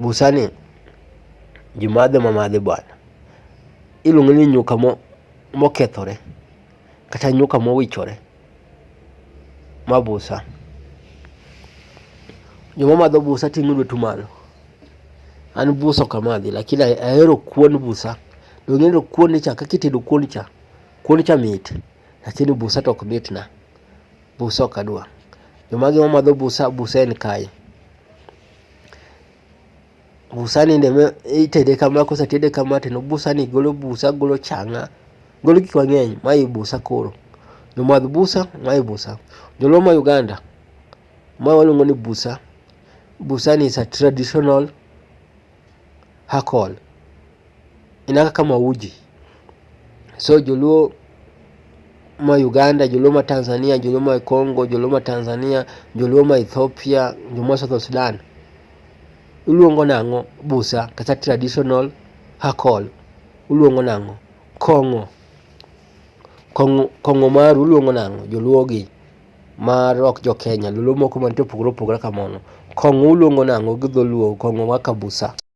Busani ji madhe ma madhe bwana. Iluonge ni nyuka mo mokethore, kata nyuka mowichore. Ma busa, joma madho busa ting'o lwetu malo. An busa ok amadhi lakini ahero kuon busa. Donge ineno kuon ni cha kaka itedo kuon cha, kuon cha mit lakini busa to ok mitna. Busa ok adwa. Jomage mamadho busa, busa en kae. Busa ni nende itede kama kosetede kama to busa ni golo busa, golo changa, golo gik mang'eny. Mae busa koro. Jomadh busa, mae busa. Joluo ma Uganda, ma waluongo ni busa. Busa ni is a traditional Hakol. Inaka kama uji. So joluo ma Uganda, joluo ma Tanzania, joluo ma Congo, joluo ma Tanzania, joluo ma Ethiopia, joluo ma South Sudan iluongo nang'o busa kata traditional hakol uluongo nang'o kong'o kong'o kong'o maru uluongo nang'o joluo gi mar ok jo Kenya, dholuo moko mantie opogore opogore ka mano. Kong'o uluongo nang'o gi dholuo, kong'o wa kabusa.